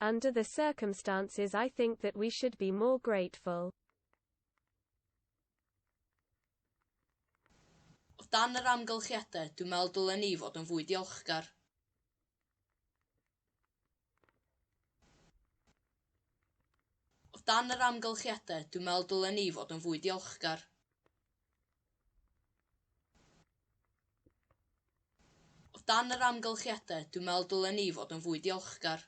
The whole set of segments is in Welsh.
Under the circumstances I think that we should be more grateful. O dan yr amgylchiadau, dwi'n meddwl dylen ni fod yn fwy diolchgar. O dan yr amgylchiadau, dwi'n meddwl dylen ni fod yn fwy diolchgar. O dan yr amgylchiadau, dwi'n meddwl dylen ni fod yn fwy diolchgar.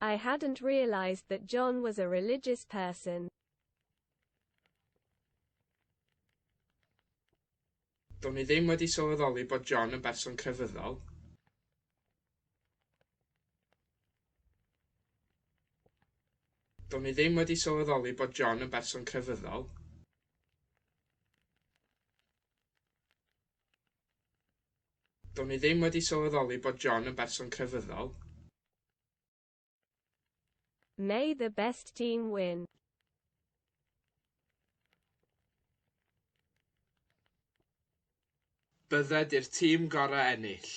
I hadn't realised that John was a religious person. Do'n i ddim wedi sylweddoli bod John yn berson crefyddol. Do'n i ddim wedi sylweddoli bod John yn berson crefyddol. Do'n i ddim wedi sylweddoli bod John yn berson crefyddol. May the best team win. Byddet i'r tîm gorau ennill.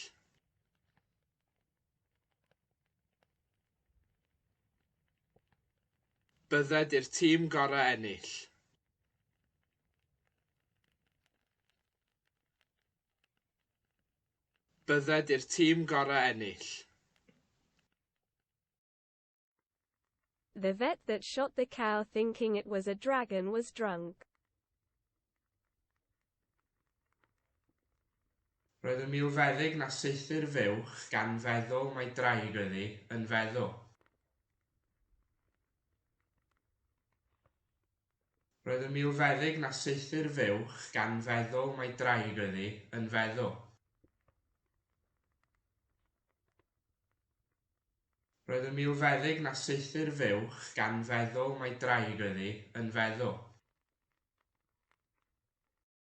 Byddet i'r tîm gorau ennill. Bydded i'r tîm gorau ennill. The vet that shot the cow thinking it was a dragon was drunk. Roedd y milfeddyg na saethu'r fuwch gan feddwl mai draig oedd hi, yn feddwl. Roedd yn milfeddyg na saethu'r fuwch gan feddwl mai draig oedd hi, yn feddwl. Roedd yn milfeddyg na saethu'r fuwch gan feddwl mai draig oedd hi, yn feddwl.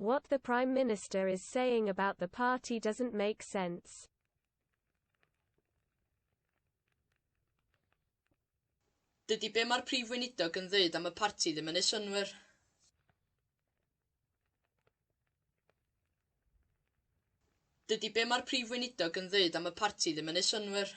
What the Prime Minister is saying about the party doesn't make sense. Dydy be mae'r Prif Weinidog yn ddeud am y parti ddim yn ei synwyr. Dydy be mae'r Prif Weinidog yn ddeud am y parti ddim yn ei synwyr.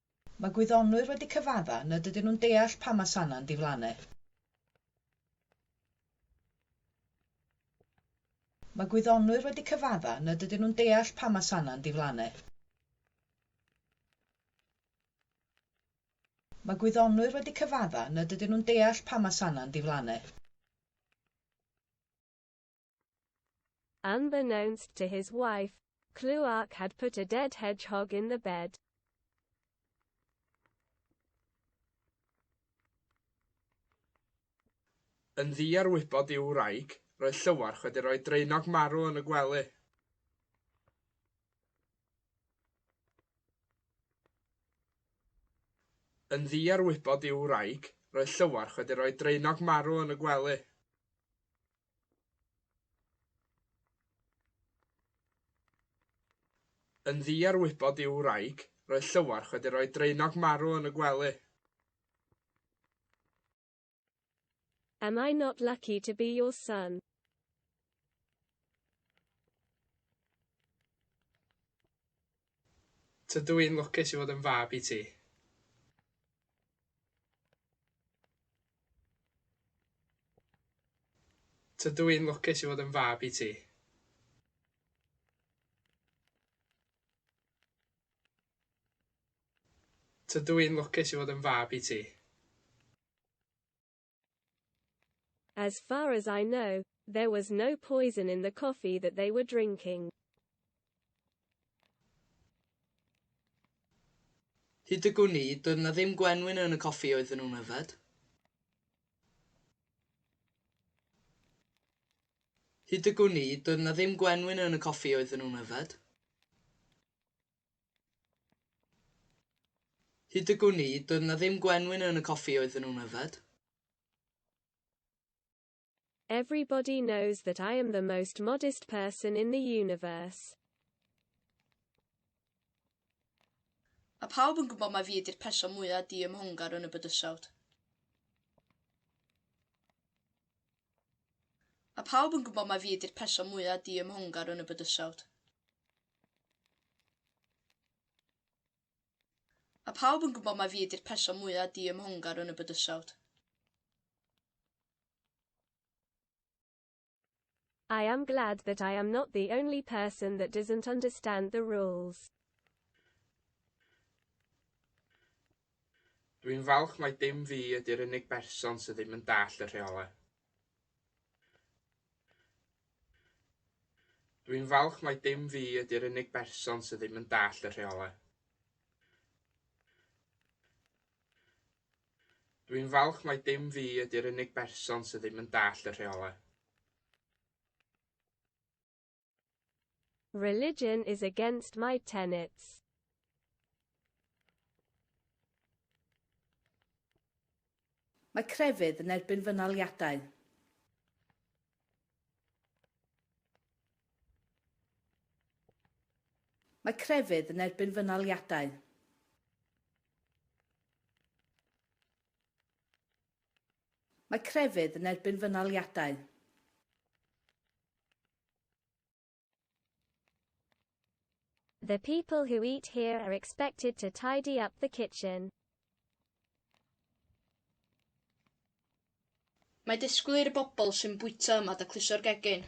Mae gwyddonwyr wedi cyfadda nad ydyn nhw'n deall pam mae sanau'n diflannu. Mae gwyddonwyr wedi cyfadda nad ydyn nhw'n deall pam mae sanau'n diflannu. Mae gwyddonwyr wedi cyfadda nad ydyn nhw'n deall pam mae sanau'n diflannu. Unbeknownst to his wife, Cluark had put a dead hedgehog in the bed. Yn ddu ar wybod i'w wraig, roedd Llywarch wedi rhoi draenog marw yn y gwely. Yn ddu ar wybod i'w wraig, roedd Llywarch wedi rhoi draenog marw yn y gwely. Yn ddu ar wybod i'w wraig, roedd Llywarch wedi rhoi draenog marw yn y gwely. Am I not lucky to be your son? Tydw i'n lwcus i fod yn fab i ti. Tydw i'n lwcus i fod yn fab i ti. Tydw i'n lwcus i fod yn fab i ti. As far as I know, there was no poison in the coffee that they were drinking. Hyd y gwn i, doedd 'na ddim gwenwyn yn y coffi oedden nhw'n yfed. Hyd y gwn i, doedd 'na ddim gwenwyn yn y coffi oedden nhw'n yfed. Hyd y gwn i, doedd 'na ddim gwenwyn yn y coffi oedden nhw'n yfed. Everybody knows that I am the most modest person in the universe. Mae pawb yn gwybod mai fi ydy'r person mwyaf diymhongar yn y bydysawd. Mae pawb yn gwybod mai fi ydy'r person mwyaf diymhongar yn y bydysawd. A phawb yn gwybod mai fi ydy'r person mwyaf diymhongar yn y bydysawd. I am glad that I am not the only person that doesn't understand the rules. Dwi'n falch mai dim fi ydy'r unig berson sydd ddim yn dallt y rheolau. Dwi'n falch mai dim fi ydy'r unig berson sydd ddim yn dallt y rheolau. Dwi'n falch mai dim fi ydy'r unig berson sydd ddim yn dallt y rheolau. Religion is against my tenets. Mae crefydd yn erbyn fy naliadau. Mae crefydd yn erbyn fy naliadau. Mae crefydd yn erbyn fy naliadau. The people who eat here are expected to tidy up the kitchen. Mae disgwyl i'r bobl sy'n bwyta yma dacluso'r gegin.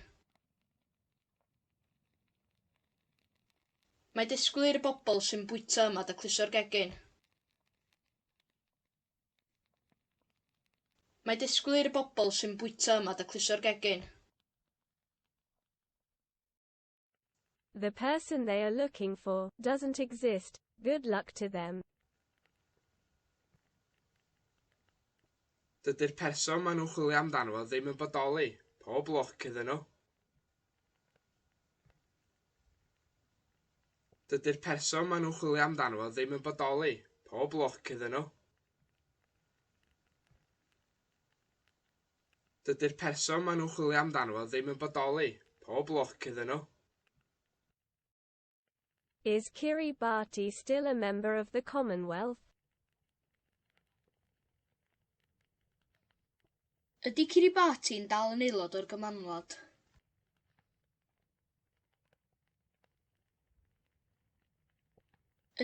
Mae disgwyl i'r bobl sy'n bwyta yma dacluso'r gegin. Mae disgwyl i'r bobl sy'n bwyta yma daclusio'r gegin. The person they are looking for doesn't exist, good luck to them. Dydy'r person maen nhw'n chwilio amdano fo ddim yn bodoli, pob lwc iddyn nhw. Dydy'r person maen nhw'n chwilio amdano fo ddim yn bodoli. Pob lwc iddyn nhw. Dydy'r person maen nhw'n chwilio amdano fo ddim yn bodoli. Pob lwc iddyn nhw. Is Kiribati still a member of the Commonwealth? Ydy Kiribati yn dal yn aelod o'r Gymanwlad?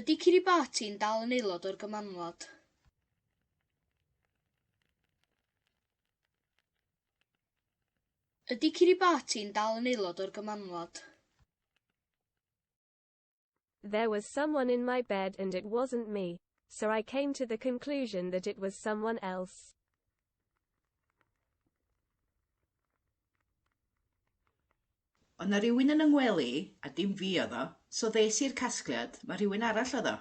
Ydy Kiribati yn dal yn aelod o'r Gymanwlad? Ydy Kiribati'n dal yn aelod o'r Gymanwlad? There was someone in my bed and it wasn't me, so I came to the conclusion that it was someone else. Oedd 'na rywun yn 'y ngwely i, a dim fi oedd o, so ddes i i'r casgliad, mae rhywun arall oedd o.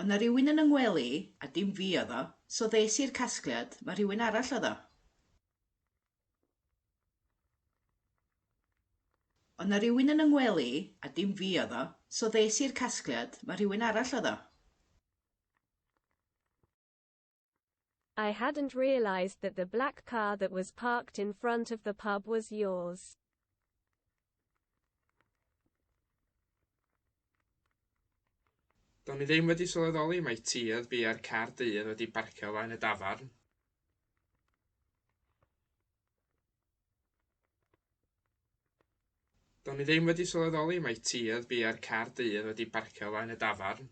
O' 'na rywun yn 'y ngwely i, a dim fi oedd o, so ddes i i'r casgliad, ma' rhywun arall oedd o. O' 'na rywun yn 'y ngwely i, a dim fi oedd o, so ddes i i'r casgliad, ma' rhywun arall oedd o. I hadn't realised that the black car that was parked in front of the pub was yours. Do'n i ddim wedi sylweddoli mai ti oedd biau'r car dy oedd wedi barcio flaen y dafarn. Do'n i ddim wedi sylweddoli mai ti oedd biau'r car dy oedd wedi barcio flaen y dafarn.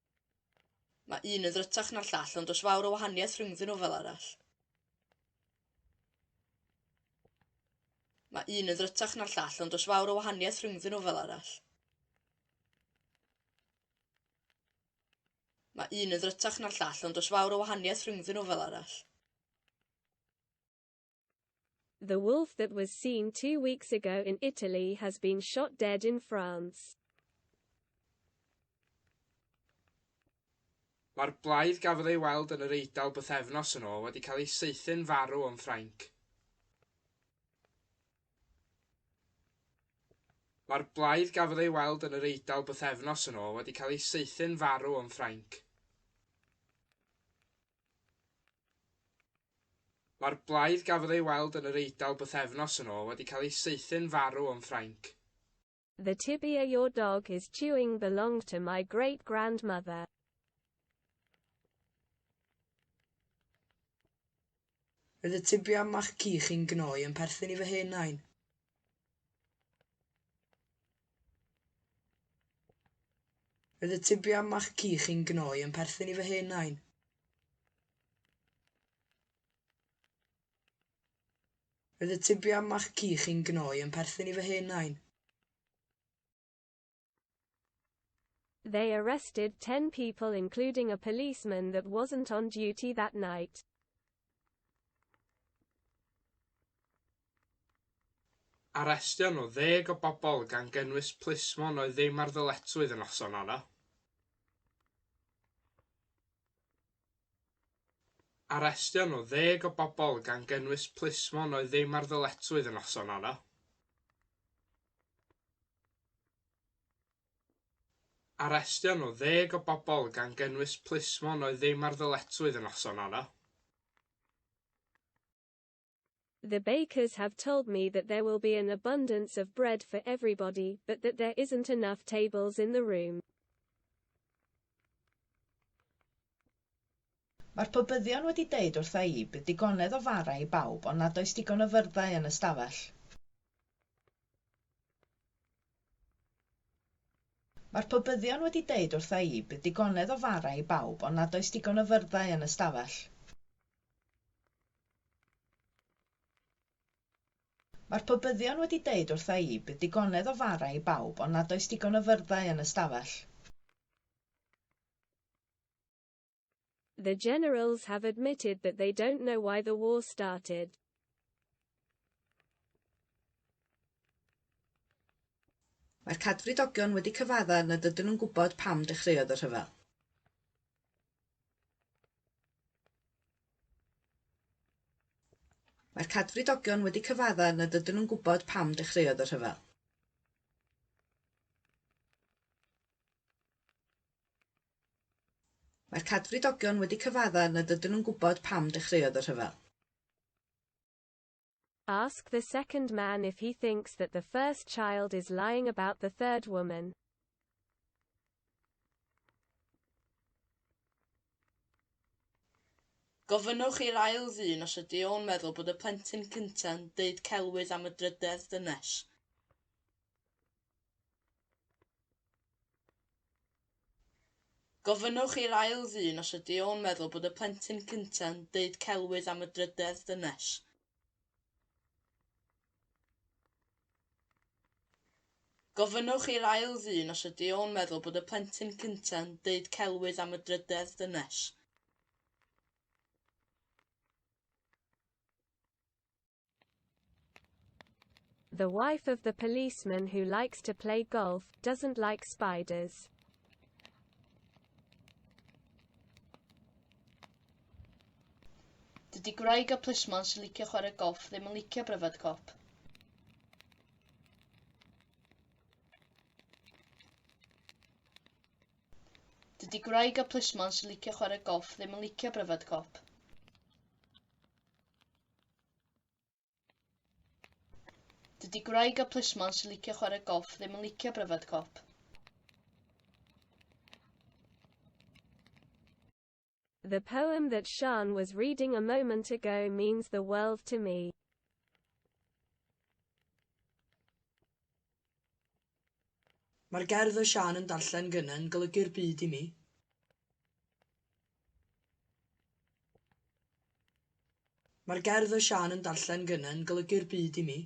Mae un yn ddrytach na'r llall ond does fawr o wahaniaeth rhyngddyn nhw fel arall. Mae un yn ddrytach na'r llall ond does fawr o wahaniaeth rhyngddyn nhw fel arall. Mae un yn ddrytach na'r llall ond does fawr o wahaniaeth rhyngddyn nhw fel arall. The wolf that was seen two weeks ago in Italy has been shot dead in France. Mae'r blaidd gafodd ei weld yn yr Eidal bythefnos yn ôl wedi cael ei saethu'n farw yn Ffrainc. Mae'r blaidd gafodd ei weld yn yr Eidal bythefnos yn ôl wedi cael ei saethu'n farw yn Ffrainc. Mae'r blaidd gafodd ei weld yn yr Eidal bythefnos yn ôl wedi cael ei saethu'n farw yn Ffrainc. The tibia your dog is chewing belonged to my great grandmother. Roedd y tibia mach ci chi'n gnoi yn perthyn i fy hen nain. Roedd y tibia maci chi'n gnoi yn perthyn i fy hen nain. Roedd y tibia maci chi'n gnoi yn perthyn i fy hen nain. They arrested 10 people including a policeman that wasn't on duty that night. Arestion o ddeg o bobl gan gynnwys plismon oedd ddim ar ddyletswydd y noson honno. Arestion o ddeg o bobl gan gynnwys plismon oedd ddim ar ddyletswydd y noson honno. Arestion o ddeg o bobl, gan gynnwys plismon oedd ddim ar ddyletswydd y noson honno. The bakers have told me that there will be an abundance of bread for everybody, but that there isn't enough tables in the room. Mae'r pobyddion wedi deud wrtha i bydd digonedd o fara i bawb ond nad oes digon o fyrddau yn y stafell. Mae'r pobyddion wedi deud wrtha i bydd digonedd o fara i bawb ond nad oes digon o fyrddau yn y stafell. Mae'r pobyddion wedi deud wrtha i bydd digonedd o fara i bawb ond nad oes digon o fyrddau yn y stafell. The generals have admitted that they don't know why the war started. Mae'r cadfridogion wedi cyfadda nad ydyn nhw'n gwybod pam dechreuodd y rhyfel. Mae'r cadfridogion wedi cyfadda nad ydyn nhw'n gwybod pam dechreuodd y rhyfel. Mae'r Cadfridogion wedi cyfadda nad ydyn nhw'n gwybod pam dechreuodd y rhyfel. Ask the second man if he thinks that the first child is lying about the third woman. Gofynnwch i'r ail ddyn os ydy o'n meddwl bod y plentyn cynta'n deud celwydd am y drydedd dynes. Gofynnwch i'r ail ddyn os ydy o'n meddwl bod y plentyn cyntaf yn deud celwydd am y drydedd dynes. Gofynnwch i'r ail ddyn os ydy o'n meddwl bod y plentyn cyntaf yn deud celwydd am y drydedd dynes. The wife of the policeman who likes to play golf, doesn't like spiders. Dydy gwraig y plismon sy'n licio chwarae golff ddim yn licio pryfed cop. Dydy gwraig y plismon sy'n licio chwarae golff ddim yn licio pryfed cop. Dydy gwraig a plismon sy'n licio chwarae golff ddim yn licio bryfed cop. The poem that Sian was reading a moment ago means the world to me. Mae'r gerdd oedd Siân yn darllen gynne'n golygu'r byd i mi. Mae'r gerdd oedd Siân yn darllen gynne'n golygu'r byd i mi.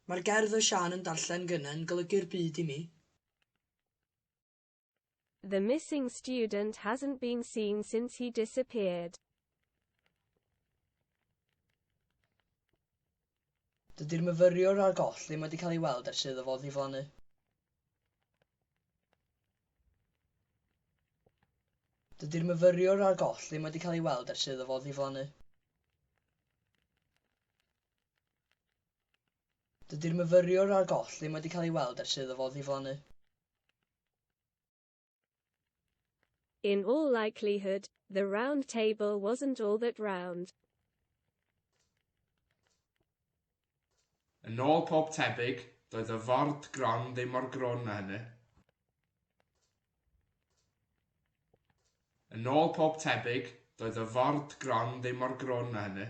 Mae'r gerdd oedd Siân yn darllen gynne'n golygu'r byd i mi. The missing student hasn't been seen since he disappeared. Dydy'r myfyriwr ar goll ddim wedi cael ei weld ers iddo fo ddiflannu. Dydy'r myfyriwr ar goll ddim wedi cael ei weld ers iddo fo ddiflannu. Dydy'r myfyriwr a'r goll ddim wedi cael ei weld ers iddo fo ddiflannu. In all likelihood, the round table wasn't all that round. Yn ôl pob tebyg, doedd y ford gron ddim mor grwn â hynny. Yn ôl pob tebyg, doedd y ford gron ddim mor grwn â hynny.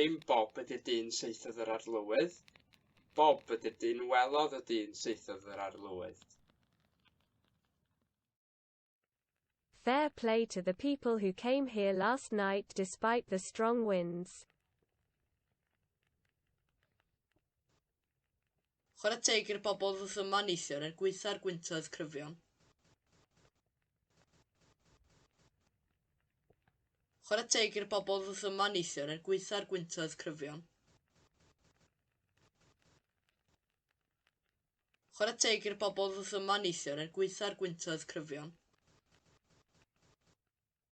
Dim Bob ydy'r dyn saethodd yr arlywydd. Bob ydy'r dyn welodd y dyn saethodd yr arlywydd. Fair play to the people who came here last night despite the strong winds. Chwarae teg i'r bobl ddoth yma neithiwr er gwaetha'r gwyntoedd cryfion. Chwarae teg i'r bobl ddoth yma neithiwr er gwaetha'r gwyntoedd cryfion. Chwarae teg i'r bobl ddoth yma neithiwr er gwaetha'r gwyntoedd cryfion.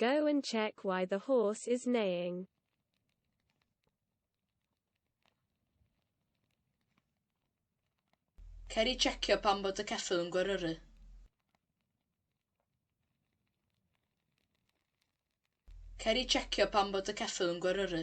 Go and check why the horse is neighing. Cer i checio pam bod y ceffyl yn gweryru. Cer i checio pam bod y ceffyl yn gweryru.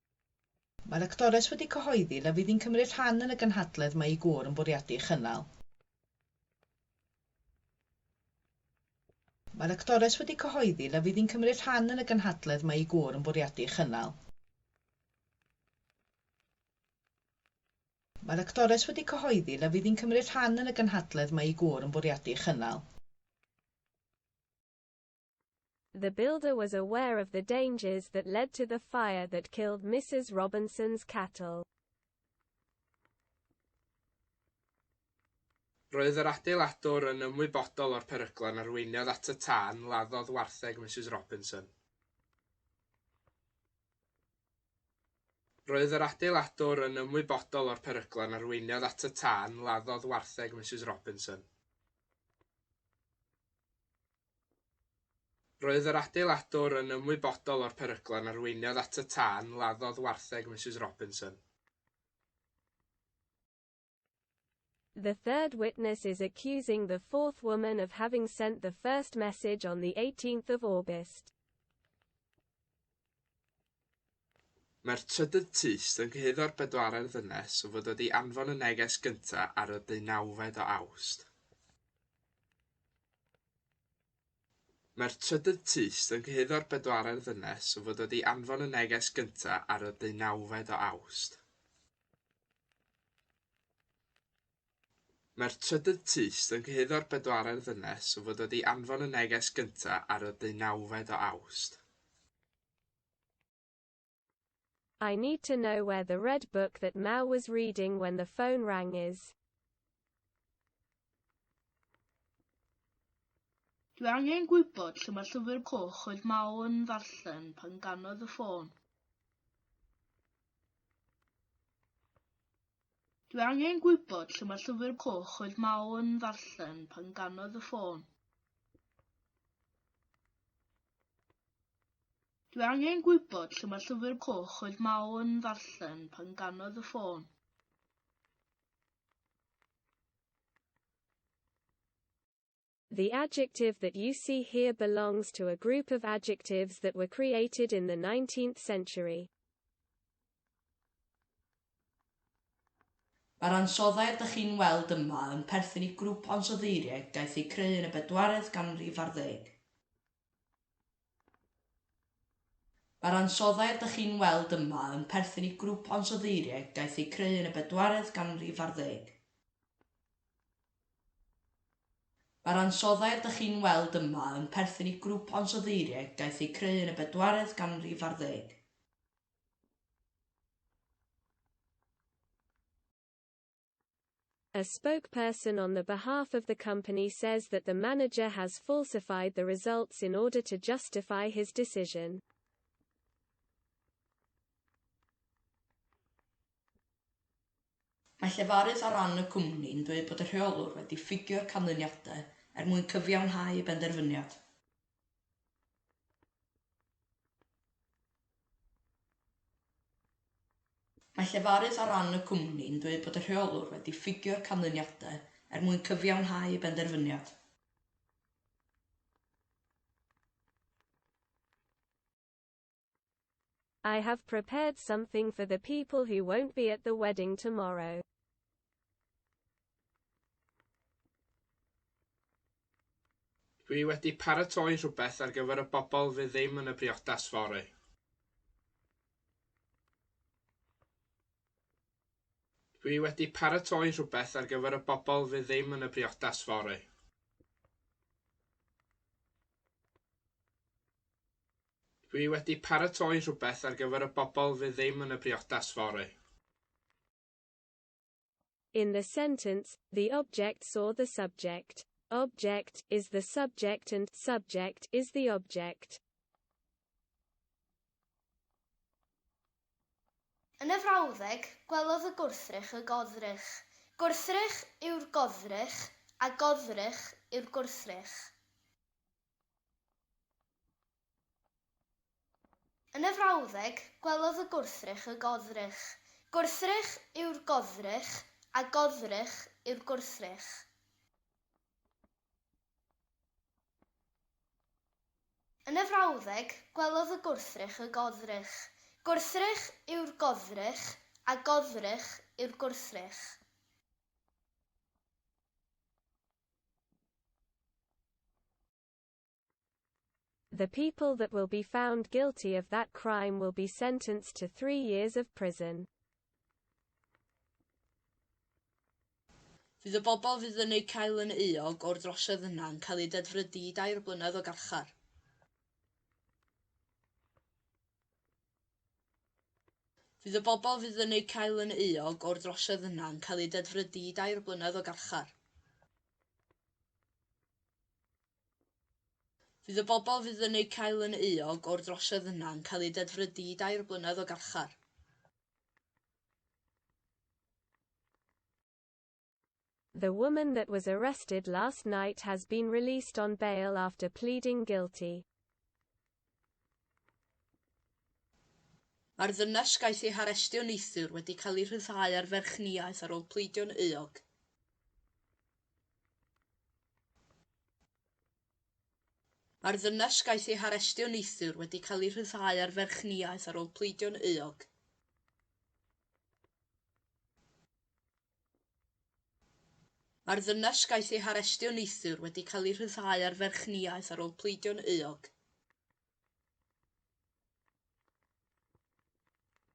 Mae'r actores wedi cyhoeddi na fydd hi'n cymryd rhan yn y gynhadledd mae ei gŵr yn bwriadu ei chynnal. Mae'r actores wedi cyhoeddi na fydd hi'n cymryd rhan yn y gynhadledd mae ei gŵr yn bwriadu ei chynnal. Mae'r actores wedi cyhoeddi na fydd hi'n cymryd rhan yn y gynhadledd mae ei gŵr yn bwriadu ei chynnal. The builder was aware of the dangers that led to the fire that killed Mrs. Robinson's cattle. Roedd yr adeiladwr yn ymwybodol o'r peryglau yn arweiniodd at y tân laddodd wartheg Mrs. Robinson. Roedd yr adeiladwr yn ymwybodol o'r peryglau yn arweiniodd at y tân laddodd wartheg Mrs. Robinson. Roedd yr adeiladwr yn ymwybodol o'r peryglon arweiniodd at y tân, laddodd wartheg Misus Robinson. The third witness is accusing the fourth woman of having sent the first message on the 18th of August. Mae'r trydydd tyst yn cyhuddo'r bedwaredd ddynes o fod wedi anfon y neges gyntaf ar y deunawfed o Awst. Mae'r trydydd tyst yn cyhuddo'r bedwaredd ddynes o fod wedi anfon y neges gyntaf ar y deunawfed o Awst. Mae'r trydydd tyst yn cyhuddo'r bedwaredd ddynes o fod wedi anfon y neges gyntaf ar y ddeunawfed o Awst. I need to know where the red book that Mel was reading when the phone rang is. Dwi angen gwybod lle mae llyfr coch oedd Mel yn ddarllen pan ganodd y ffôn. Dwi angen gwybod lle mae llyfr coch oedd Mao yn ddarllen pan ganodd y ffôn. Dwi angen gwybod lle mae llyfr coch oedd Mao yn ddarllen pan ganodd y ffôn. The adjective that you see here belongs to a group of adjectives that were created in the 19th century. Mae'r ansoddair ydych chi'n weld yma yn perthyn i grŵp o ansoddeiriaid gaeth eu creu yn y bedwaredd ganrif ar ddeg. Mae'r ansoddair dych chi'n weld yma yn perthyn i grŵp o ansoddeiriau daeth eu creu yn y bedwaredd ganrif ar ddeg. Mae'r ansoddair dych chi'n weld yma yn perthyn i grŵp o ansoddeiriau daeth eu creu yn y bedwaredd ganrif ar ddeg. A spokesperson on the behalf of the company says that the manager has falsified the results in order to justify his decision. Mae llefarydd ar ran y cwmni yn dweud bod y rheolwr wedi ffugio'r canlyniadau er mwyn cyfiawnhau y benderfyniad. Mae llefarydd ar ran y cwmni yn dweud bod y rheolwr wedi ffugio'r canlyniadau er mwyn cyfiawnhau ei benderfyniad. I have prepared something for the people who won't be at the wedding tomorrow. Dwi wedi paratoi rhywbeth ar gyfer y bobl fydd ddim yn y briodas fory. Dwi wedi paratoi rhywbeth ar gyfer y bobl fydd ddim yn y briodas fory. Dwi wedi paratoi rhywbeth ar gyfer y bobl fydd ddim yn y briodas fory. In the sentence, the object saw the subject. Object is the subject and subject is the object. Yn y frawddeg, gwelodd y gwrthrych y goddrych. Gwrthrych yw'r goddrych a goddrych yw'r gwrthrych. Yn y frawddeg, gwelodd y gwrthrych y goddrych. Gwrthrych yw'r goddrych, a goddrych yw'r gwrthrych. Yn y frawddeg, gwelodd y gwrthrych y goddrych. Gwrthrych yw'r goddrych, a goddrych yw'r gwrthrych. The people that will be found guilty of that crime will be sentenced to three years of prison. Fydd y bobl fydd yn eu cael yn euog o'r drosiad yna yn cael eu dedfrydu i dair blynedd o garchar. Fydd y bobl fydd yn eu cael yn euog o'r drosiad yna yn cael eu dedfrydu i dair blynedd o garchar. Fydd y bobl fydd yn eu cael yn euog o'r drosiad yna yn cael eu dedfrydu i dair blynedd o garchar. The woman that was arrested last night has been released on bail after pleading guilty. Mae'r ddynes gaeth ei harestio neithiwr wedi cael ei rhyddhau ar ferchniaeth ar ôl pleidio'n euog. Mae'r ddynes gaeth ei harestio neithiwr wedi cael ei rhyddhau ar ferchniaeth ar ôl pleidio'n euog. Mae'r ddynes gaeth ei harestio neithiwr wedi cael ei rhyddhau ar ferchniaeth ar ôl pleidio'n euog.